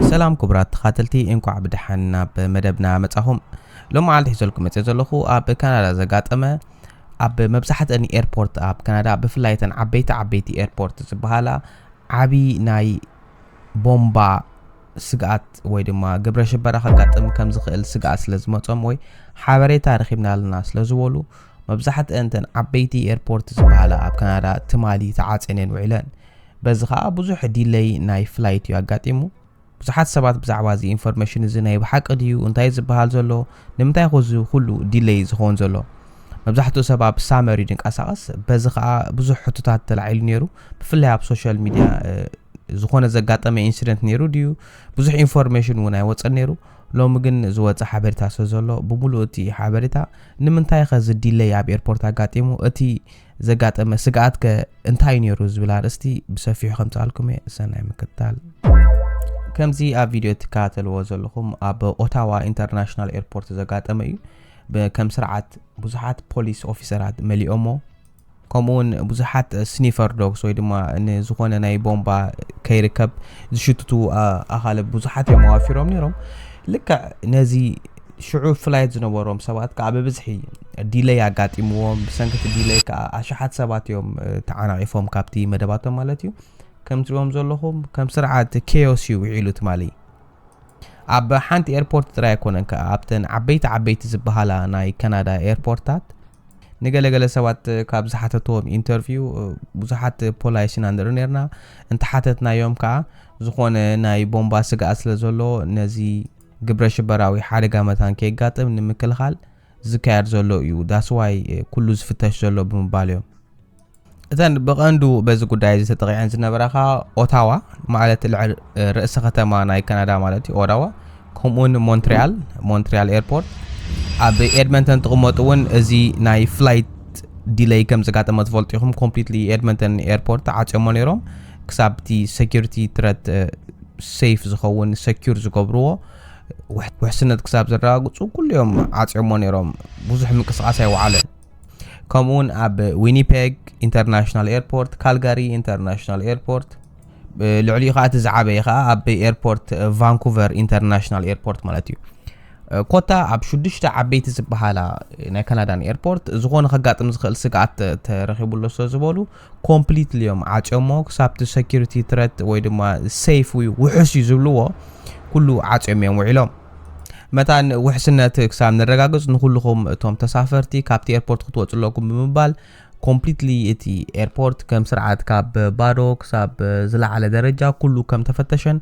ሰላም ኩቡራት ተኻተልቲ እንኳዕ ብደሓን ናብ መደብና መጻኹም ሎም መዓልቲ ሒዘልኩም መጽ ዘለኹ ኣብ ካናዳ ዘጋጠመ ኣብ መብዛሕተን ኤርፖርት ኣብ ካናዳ ብፍላይ ተን ዓበይቲ ዓበይቲ ኤርፖርት ዝበሃላ ዓብዪ ናይ ቦምባ ስግኣት ወይ ድማ ግብረ ሽበራ ከጋጥም ከም ዝኽእል ስግኣት ስለ ዝመፆም ወይ ሓበሬታ ረኺብና ኣለና ስለ ዝበሉ መብዛሕትአን ተን ዓበይቲ ኤርፖርት ዝበሃላ ኣብ ካናዳ ትማሊ ተዓፅየን ውዒለን በዚ ከኣ ብዙሕ ዲለይ ናይ ፍላይት እዩ ኣጋጢሙ። ብዙሓት ሰባት ብዛዕባ እዚ ኢንፎርሜሽን እዚ ናይ ብሓቂ ድዩ እንታይ ዝበሃል ዘሎ ንምንታይ ኮ እዚ ኩሉ ዲለይ ዝኸውን ዘሎ መብዛሕትኡ ሰብ ኣብ ሳመር እዩ ድንቀሳቐስ በዚ ከኣ ብዙሕ ሕቶታት ተላዒሉ ነይሩ ብፍላይ ኣብ ሶሻል ሚድያ ዝኾነ ዘጋጠመ ኢንሲደንት ነይሩ ድዩ ብዙሕ ኢንፎርሜሽን እውን ኣይወፀን ነይሩ ሎሚ ግን ዝወፀ ሓበሬታ ስለ ዘሎ ብምሉእ እቲ ሓበሬታ ንምንታይ ከዚ ዲለይ ኣብ ኤርፖርት ኣጋጢሙ እቲ ዘጋጠመ ስግኣት ከ እንታይ ነይሩ ዝብል ኣርእስቲ ብሰፊሑ ከምጽኣልኩም እየ ሰናይ ምክትታል ከምዚ ኣብ ቪድዮ እትከታተልዎ ዘለኹም ኣብ ኦታዋ ኢንተርናሽናል ኤርፖርት ዘጋጠመ እዩ ከም ስርዓት ብዙሓት ፖሊስ ኦፊሰራት መሊኦሞ ከምኡ እውን ብዙሓት ስኒፈር ዶግስ ወይ ድማ ንዝኾነ ናይ ቦምባ ከይርከብ ዝሽትቱ ኣኻልብ ብዙሓት እዮም ኣዋፊሮም ነይሮም ልክዕ ነዚ ሽዑ ፍላይት ዝነበሮም ሰባት ከዓ ብብዝሒ ዲለይ ኣጋጢምዎም ብሰንኪ እቲ ዲለይ ከዓ ኣሽሓት ሰባት እዮም ተዓናቒፎም ካብቲ መደባቶም ማለት እዩ ከም ትሪኦም ዘለኹም ከም ስርዓት ኬዮስ እዩ ውዒሉ ትማሊ ኣብ ሓንቲ ኤርፖርት ጥራይ ኣይኮነን ከዓ ኣብተን ዓበይቲ ዓበይቲ ዝበሃላ ናይ ካናዳ ኤርፖርታት ንገለገለ ሰባት ካብ ዝሓተትዎም ኢንተርቪው ብዙሓት ፖላይስ ኢና ንርኢ ነርና እንተሓተትናዮም ከዓ ዝኾነ ናይ ቦምባ ስግኣት ስለ ዘሎ ነዚ ግብረሽበራዊ ሓደጋ መታን ከየጋጥም ንምክልኻል ዝካየድ ዘሎ እዩ ዳስ ዋይ ኩሉ ዝፍተሽ ዘሎ ብምባል እዮም እተን ብቐንዱ በዚ ጉዳይ እዚ ተጠቂዐን ዝነበራ ከዓ ኦታዋ ማለት ልዕል ርእሲ ከተማ ናይ ካናዳ ማለት እዩ ኦዳዋ ከምኡውን ሞንትሪያል ሞንትሪያል ኤርፖርት ኣብ ኤድመንተን ትቕመጡ እውን እዚ ናይ ፍላይት ዲለይ ከም ዘጋጠመ ትፈልጡ ኢኹም ኮምፕሊትሊ ኤድመንተን ኤርፖርት ተዓፅዮሞ ነይሮም ክሳብ እቲ ሰኪሪቲ ትረት ሰይፍ ዝኸውን ሰኪር ዝገብርዎ ውሕስነት ክሳብ ዘረጋግፁ ኩሉ እዮም ዓፅዮሞ ነይሮም ብዙሕ ምንቅስቃስ ኣይወዓለን ከምኡ እውን ኣብ ዊኒፔግ ኢንተርናሽናል ኤርፖርት ካልጋሪ ኢንተርናሽናል ኤርፖርት ልዕሊኡ ከዓ እቲ ዝዓበየ ከዓ ኣብ ኤርፖርት ቫንኩቨር ኢንተርናሽናል ኤርፖርት ማለት እዩ ኮታ ኣብ ሽዱሽተ ዓበይቲ ዝበሃላ ናይ ካናዳን ኤርፖርት ዝኾነ ከጋጥም ዝኽእል ስግኣት ተረኺቡሎ ስለ ዝበሉ ኮምፕሊትሊ እዮም ዓጽዮሞ ክሳብቲ ሰኪሪቲ ትረት ወይ ድማ ሰይፍ ውይ ውሑስ እዩ ዝብልዎ ኩሉ ዓጽዮም እዮም ውዒሎም መታን ውሕስነት ክሳብ ነረጋግጽ ንኹልኹም እቶም ተሳፈርቲ ካብቲ ኤርፖርት ክትወጹ ኣለኩም ብምባል ኮምፕሊትሊ እቲ ኤርፖርት ከም ስርዓት ካብ ባዶ ክሳብ ዝለዓለ ደረጃ ኩሉ ከም ተፈተሸን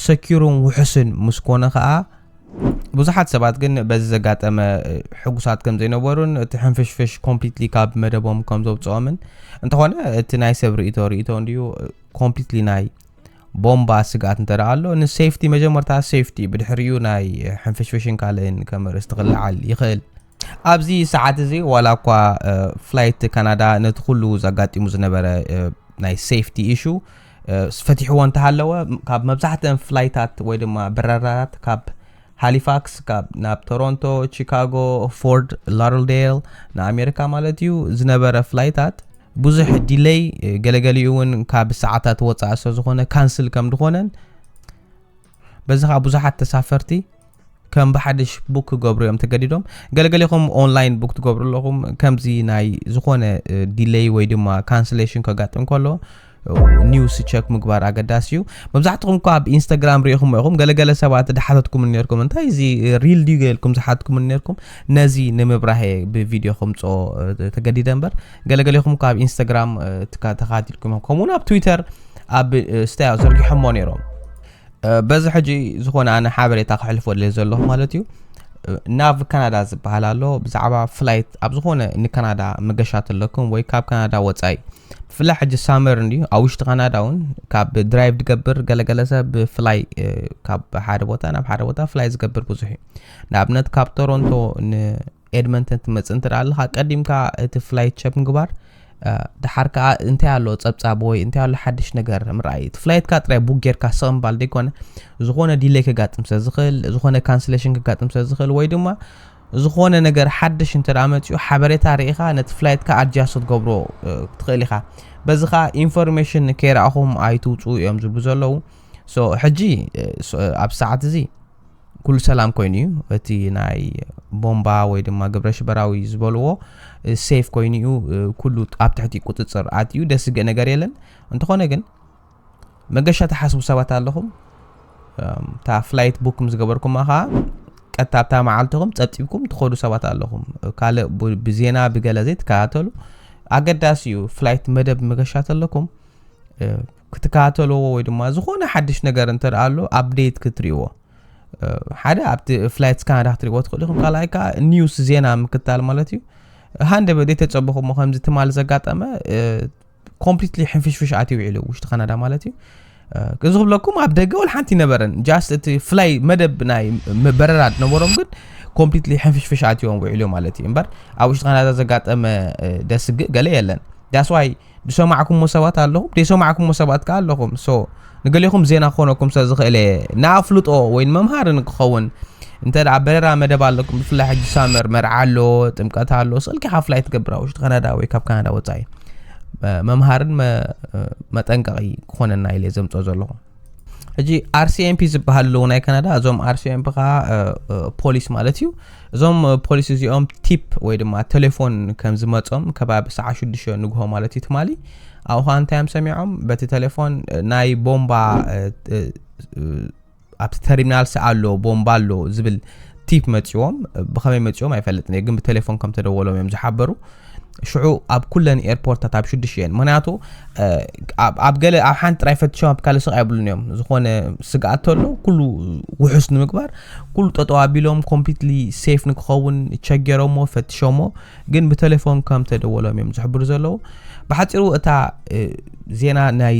ሰኪሩን ውሑስን ምስ ኮነ ከኣ ብዙሓት ሰባት ግን በዚ ዘጋጠመ ሕጉሳት ከም ዘይነበሩን እቲ ሕንፍሽፍሽ ኮምፕሊትሊ ካብ መደቦም ከም ዘውፅኦምን እንተኾነ እቲ ናይ ሰብ ርእቶ ርእቶ እንድዩ ኮምፕሊትሊ ናይ ቦምባ ስግኣት እንተ ኣሎ ንሴፍቲ መጀመርታ ሴፍቲ ብድሕሪኡ ናይ ሕንፍሽፍሽን ካልእን ከም ርእስቲ ክለዓል ይኽእል ኣብዚ ሰዓት እዚ ዋላ እኳ ፍላይት ካናዳ ነቲ ኩሉ ዘጋጢሙ ዝነበረ ናይ ሴፍቲ ኢሹ ፈቲሕዎ እንተሃለወ ካብ መብዛሕትአን ፍላይታት ወይ ድማ በረራታት ካብ ሃሊፋክስ ካብ ናብ ቶሮንቶ ቺካጎ ፎርድ ላርልዴል ንኣሜሪካ ማለት እዩ ዝነበረ ፍላይታት ብዙሕ ዲለይ ገለገሊኡ እውን ካብ ሰዓታት ወፃኢ ስለዝኾነ ካንስል ከም ዝኾነን በዚ ከዓ ብዙሓት ተሳፈርቲ ከም ብሓድሽ ቡክ ክገብሩ እዮም ተገዲዶም ገለ ገሌኹም ኦንላይን ቡክ ትገብሩ ኣለኹም ከምዚ ናይ ዝኾነ ዲለይ ወይ ድማ ካንስሌሽን ከጋጥም ከሎ ኒውስ ቸክ ምግባር ኣገዳሲ እዩ መብዛሕትኹም እኳ ኣብ ኢንስታግራም ሪኢኹም ኢኹም ገለገለ ሰባት ድሓተትኩም ነርኩም እንታይ እዚ ሪል ድዩ ገይልኩም ዝሓትኩም ነርኩም ነዚ ንምብራህ ብቪድዮ ከምፆ ተገዲደ እምበር ገለገሌኹም እኳ ኣብ ኢንስታግራም ተኻቲልኩም ከምኡውን ኣብ ትዊተር ኣብ ስታያ ዘርጊሖሞ ነይሮም በዚ ሕጂ ዝኾነ ኣነ ሓበሬታ ክሕልፎ ድልየ ዘለኹ ማለት እዩ ናብ ካናዳ ዝበሃል ኣሎ ብዛዕባ ፍላይት ኣብ ዝኾነ ንካናዳ መገሻ ተለኩም ወይ ካብ ካናዳ ወፃኢ ብፍላይ ሕጂ ሳመር እንድዩ ኣብ ውሽጢ ካናዳ እውን ካብ ድራይቭ ዝገብር ገለገለ ሰብ ብፍላይ ካብ ሓደ ቦታ ናብ ሓደ ቦታ ፍላይ ዝገብር ብዙሕ እዩ ንኣብነት ካብ ቶሮንቶ ኤድመንተን ትመጽእ እንተ ኣለኻ ቀዲምካ እቲ ፍላይት ቸክ ምግባር ድሓር ከዓ እንታይ ኣሎ ጸብጻብ ወይ እንታይ ኣሎ ሓድሽ ነገር ምርኣይ እቲ ፍላይትካ ጥራይ ቡክ ጌርካ ስቕ ምባል ዘይኮነ ዝኾነ ዲሌይ ከጋጥም ስለ ዝኽእል ዝኾነ ካንስሌሽን ከጋጥም ስለ ዝኽእል ወይ ድማ ዝኾነ ነገር ሓድሽ እንተ መፅኡ ሓበሬታ ርኢኻ ነቲ ፍላይትካ ኣድጃስት ትገብሮ ትኽእል ኢኻ በዚ ከዓ ኢንፎርሜሽን ከይረኣኹም ኣይትውፅኡ እዮም ዝብሉ ዘለዉ ሕጂ ኣብ ሰዓት እዚ ኩሉ ሰላም ኮይኑ እዩ እቲ ናይ ቦምባ ወይ ድማ ግብረ ሽበራዊ ዝበልዎ ሴፍ ኮይኑ እዩ ኩሉ ኣብ ትሕቲ ቁፅፅር ኣትዩ ደስ ዝገእ ነገር የለን እንተኾነ ግን መገሻ ተሓስቡ ሰባት ኣለኹም እታ ፍላይት ቡክ ምስ ገበርኩማ ከዓ ቀጥታ ኣብታ መዓልትኹም ፀብፂብኩም ትኸዱ ሰባት ኣለኹም ካልእ ብዜና ብገለ ዘይትከታተሉ ኣገዳሲ እዩ ፍላይት መደብ መገሻ ተለኩም ክትከታተልዎ ወይ ድማ ዝኾነ ሓድሽ ነገር እንተ ደኣ ኣሎ ኣብዴት ክትርእይዎ ሓደ ኣብቲ ፍላይት ስካናዳ ክትርእይዎ ትኽእሉ ኢኹም ካልኣይ ከዓ ኒውስ ዜና ምክታል ማለት እዩ ሃንደበ ዘይተፀበኹሞ ከምዚ ትማል ዘጋጠመ ኮምፕሊትሊ ሕንፍሽፍሽ ኣትዩ ውዒሉ ውሽጢ ካናዳ ማለት እዩ እዚ ክብለኩም ኣብ ደገ ወል ሓንቲ ነበረን ጃስት እቲ ፍላይ መደብ ናይ በረራ ዝነበሮም ግን ኮምፕሊትሊ ሕንፍሽፍሽ ኣትዮም ውዒሉ ማለት እዩ እምበር ኣብ ውሽጢ ካናዳ ዘጋጠመ ደስግእ ገለ የለን ዳስዋይ ዝሰማዕኩሞ ሰባት ኣለኹም ዘይሰማዕኩሞ ሰባት ከኣ ኣለኹም ሶ ንገሌኹም ዜና ክኾነኩም ስለ ዝኽእለ ንኣፍልጦ ወይ ንመምሃሪ ንክኸውን እንተ ደኣ በረራ መደብ ኣለኩም ብፍላይ ሕጂ ሳመር መርዓ ኣሎ ጥምቀት ኣሎ ስልኪ ሓፍላይ ትገብር ኣብ ውሽጢ ካናዳ ወይ ካብ ካናዳ ወፃኢ መምሃርን መጠንቀቒ ክኾነና ኢለ ዘምፅኦ ዘለኹ ሕጂ ኣርሲኤምፒ ዝበሃል ኣለዉ ናይ ካናዳ እዞም ኣርሲኤምፒ ከዓ ፖሊስ ማለት እዩ እዞም ፖሊስ እዚኦም ቲፕ ወይ ድማ ቴሌፎን ከም ዝመፆም ከባቢ ሰዓ ሽዱሽተ ንግሆ ማለት እዩ ትማሊ ኣብኡ ከዓ እንታይ እዮም ሰሚዖም በቲ ቴሌፎን ናይ ቦምባ ኣብቲ ተርሚናል ሰዓ ኣሎ ቦምባ ኣሎ ዝብል ቲፕ መፅዎም ብኸመይ መፅዎም ኣይፈልጥን እየ ግን ብቴሌፎን ከም ተደወሎም እዮም ዝሓበሩ ሽዑ ኣብ ኩለን ኤርፖርታት ኣብ ሽዱሽ እየን ምክንያቱ ኣብ ገለ ኣብ ሓንቲ ጥራይ ፈትሾም ኣብ ካልእ ስቕ ኣይብሉን እዮም ዝኾነ ስግኣት ተሎ ኩሉ ውሑስ ንምግባር ኩሉ ጠጠው ኣቢሎም ኮምፕሊትሊ ሴፍ ንክኸውን ቸገሮሞ ፈትሾሞ ግን ብቴሌፎን ከም ተደወሎም እዮም ዝሕብሩ ዘለዉ ብሓፂሩ እታ ዜና ናይ